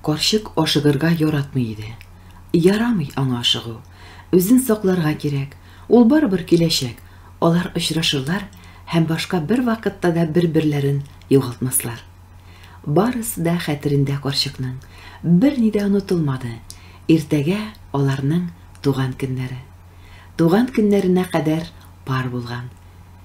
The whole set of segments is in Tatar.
Карчык ашыгырга яратмый иде. Ярамый аңа ашыгу. Үзен сакларга кирәк. Ул барыбер киләчәк. Алар очрашырлар һәм башка бер вакытта да бер-берләрен югалтмаслар. Барысы да хәтерендә карчыкның. Берни дә онытылмады. Иртәгә аларның туган көннәре. Туган көннәренә кадәр пар булган.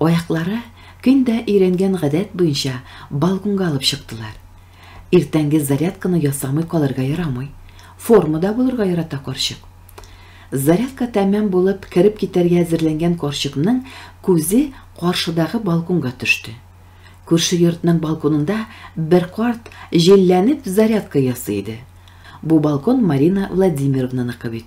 Аяклары көн дә өйрәнгән гадәт буенча балконга алып чыктылар. Иртәнге зарядканы ясамый калырга ярамый. Формада булырга ярата карчык. Зарядка тәмам булып, кереп китәргә әзерләнгән карчыкның күзе каршыдагы балконга төште. Күрше йортның балконында бер карт җилләнеп зарядка ясый иде. Бу балкон Марина Владимировнаныкы бит.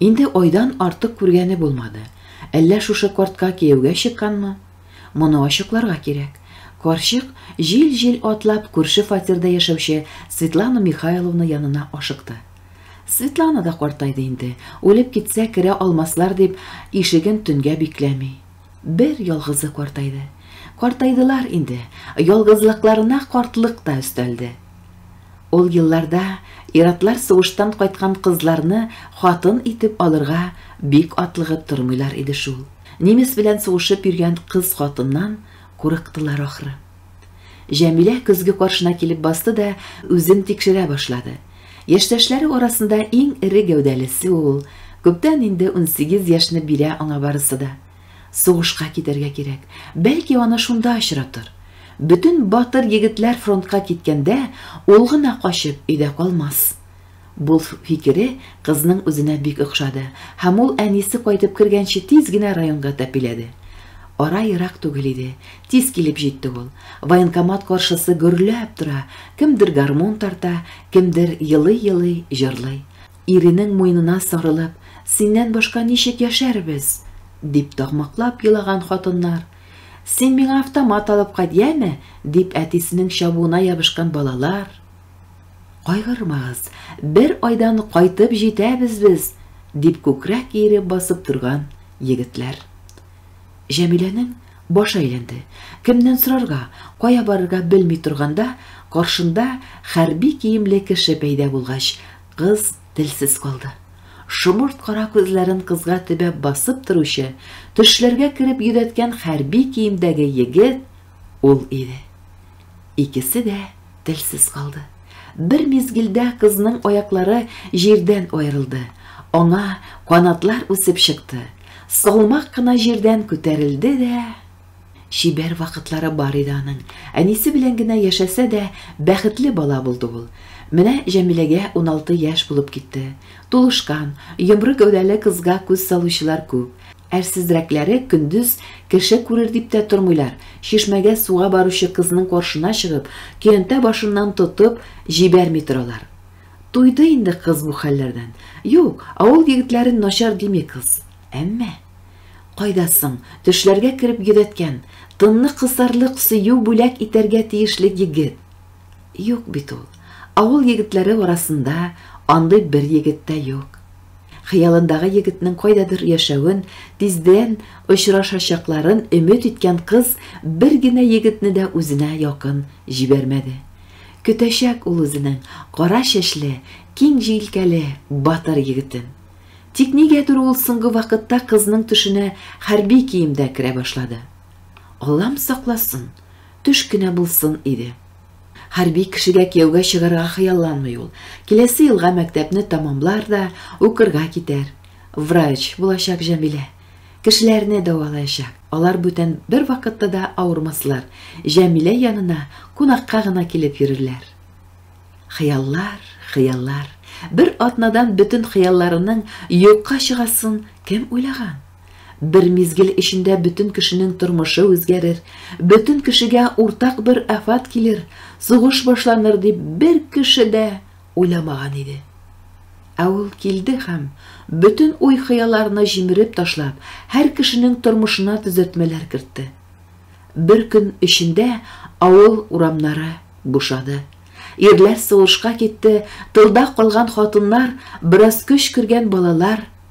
Инде айдан артык күргәне булмады. Әллә шушы кортка кияүгә чыкканмы? Моны ачыкларга кирәк. Карчык, җил-җил атлап, күрше фатирда яшәүче Светлана Михайловна янына ашыкты. Светлана да картайды инде, үлеп китсә, керә алмаслар дип, ишеген төнгә бикләми. Бер ялгызы картайды. Картайдылар инде, ялгызлыкларына картлык та өстәлде. Ул елларда ир-атлар сугыштан кайткан кызларны хатын итеп алырга бик атлыгып тормыйлар иде шул. Немец белән сугышып йөргән кыз-хатыннан курыктылар ахры. Җәмилә көзге каршына килеп басты да үзен тикшерә башлады. Яшьтәшләре арасында иң эре гәүдәлесе ул, күптән инде унсигез яшьне бирә аңа барысы да. Сугышка китәргә кирәк, бәлки аны шунда очратыр. Бөтен батыр егетләр фронтка киткәндә, ул гына качып өйдә калмас. Бу фикере кызның үзенә бик охшады һәм ул әнисе кайтып кергәнче тиз генә районга тәпиләде. Ара ерак түгел иде, тиз килеп җитте ул. Военкомат каршысы гөрләп тора, кемдер гармун тарта, кемдер елый-елый җырлый. Иренең муенына сарылып, Синнән башка ничек яшәрбез? дип такмаклап елаган хатыннар, Син миңа автомат алып кайт, яме! дип әтисенең чабуына ябышкан балалар, Кайгырмагыз, бер айдан кайтып җитәбез без, дип күкрәк иереп басып торган егетләр. Җәмиләнең башы әйләнде. Кемнән сорарга, кая барырга белми торганда, каршында хәрби киемле кеше пәйда булгач, кыз телсез калды. Шомырт кара күзләрен кызга төбәп басып торучы, төшләргә кереп йөдәткән хәрби киемдәге егет Ул иде. Икесе дә телсез калды. Бер мизгелдә кызның аяклары җирдән аерылды, аңа канатлар үсеп чыкты, салмак кына җирдән күтәрелде дә. Чибәр вакытлары бар иде аның. Әнисе белән генә яшәсә дә, бәхетле бала булды ул. Менә Җәмиләгә уналты яшь булып китте. Тулышкан, йомры гәүдәле кызга күз салучылар күп. Әрсезрәкләре көндез кеше күрер дип тә тормыйлар, чишмәгә суга баручы кызның каршына чыгып, көянтә башыннан тотып, җибәрми торалар. Туйды инде кыз бу хәлләрдән. Юк, авыл егетләрен начар дими кыз. Әмма. Кайда соң, төшләргә кереп йөдәткән, тынны кысарлык сөю бүләк итәргә тиешле егет? Юк бит ул. Авыл егетләре арасында андый бер егет тә юк. Хыялындагы егетнең кайдадыр яшәвен, тиздән очрашачакларын өмет иткән кыз бер генә егетне дә үзенә якын җибәрмәде. Көтәчәк ул үзенең кара чәчле, киң җилкәле батыр егетен. Тик нигәдер ул соңгы вакытта кызның төшенә хәрби киемдә керә башлады. Аллам сакласын, төш кенә булсын иде. Хәрби кешегә кияүгә чыгарга хыялланмый ул. Киләсе елга мәктәпне тәмамлар да укырга китәр. Врач булачак Җәмилә. Кешеләрне дәвалаячак. Алар бүтән бер вакытта да авырмаслар, Җәмилә янына кунакка гына килеп йөрерләр. Хыяллар, хыяллар. Бер атнадан бөтен хыялларының юкка чыгасын кем уйлаган? Бер мизгел эчендә бөтен кешенең тормышы үзгәрер, бөтен кешегә уртак бер афат килер, сугыш башланыр дип бер кеше дә уйламаган иде. Ә ул килде һәм, бөтен уй-хыялларны җимереп ташлап, һәр кешенең тормышына төзәтмәләр кертте. Бер көн эчендә авыл урамнары бушады. Ирләр сугышка китте, тылда калган хатыннар, бераз көч кергән балалар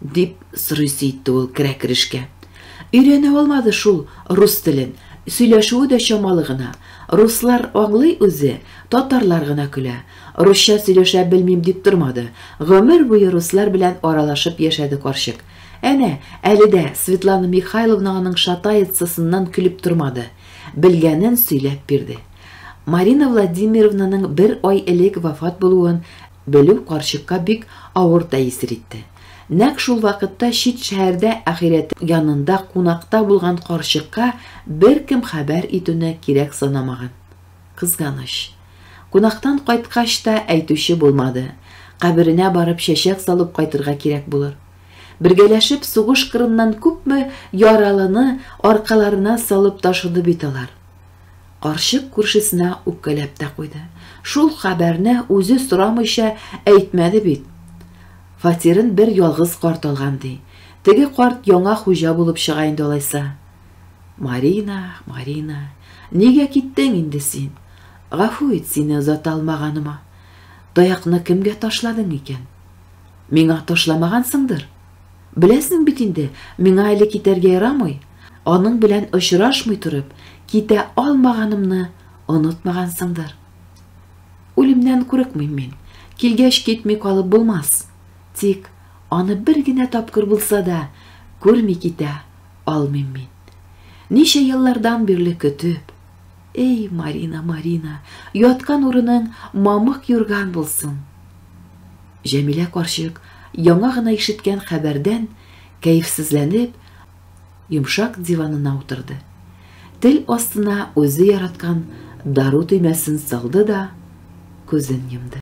Дип сорыйсы итте ул керә-керешкә. Өйрәнә алмады шул рус телен, сөйләшүе дә чамалы гына. Руслар аңлый үзе, татарлар гына көлә. Русча сөйләшә белмим дип тормады. Гомер буе руслар белән аралашып яшәде карчык. Әнә, әле дә Светлана Михайловна аның шатаецасыннан көлеп тормады. Белгәнен сөйләп бирде. Марина Владимировнаның бер ай элек вафат булуын Белү карчыкка бик авыр тәэсир итте. Нәкъ шул вакытта чит шәһәрдә ахирәте янында кунакта булган карчыкка беркем хәбәр итүне кирәк санамаган. Кызганыч. Кунактан кайткач та әйтүче булмады. Каберенә барып чәчәк салып кайтырга кирәк булыр. Бергәләшеп сугыш кырыннан күпме яралыны аркаларына салып ташыды бит алар. Карчык күршесенә үпкәләп тә куйды. Шул хәбәрне үзе сорамыйча әйтмәде бит. Фатирын бер ялгыз карт алган, ди. Теге карт яңа хуҗа булып чыга инде алайса. Марина, Марина, нигә киттең инде син? Гафу ит сине озата алмаганыма. Таякны кемгә ташладың икән? Миңа ташламагансыңдыр? Беләсең бит инде, миңа әле китәргә ярамый, аның белән очрашмый торып, китә алмаганымны онытмагансыңдыр. Үлемнән курыкмыйм мин, килгәч китми калып булмас. Тик аны бер генә тапкыр булса да күрми китә алмыйм мин. Ничә еллардан бирле көтеп. Эй, Марина, Марина, яткан урының мамык юрган булсын! Җәмилә карчык яңа гына ишеткән хәбәрдән кәефсезләнеп, йомшак диванына утырды. Тел астына үзе яраткан дару төймәсен салды да күзен йомды.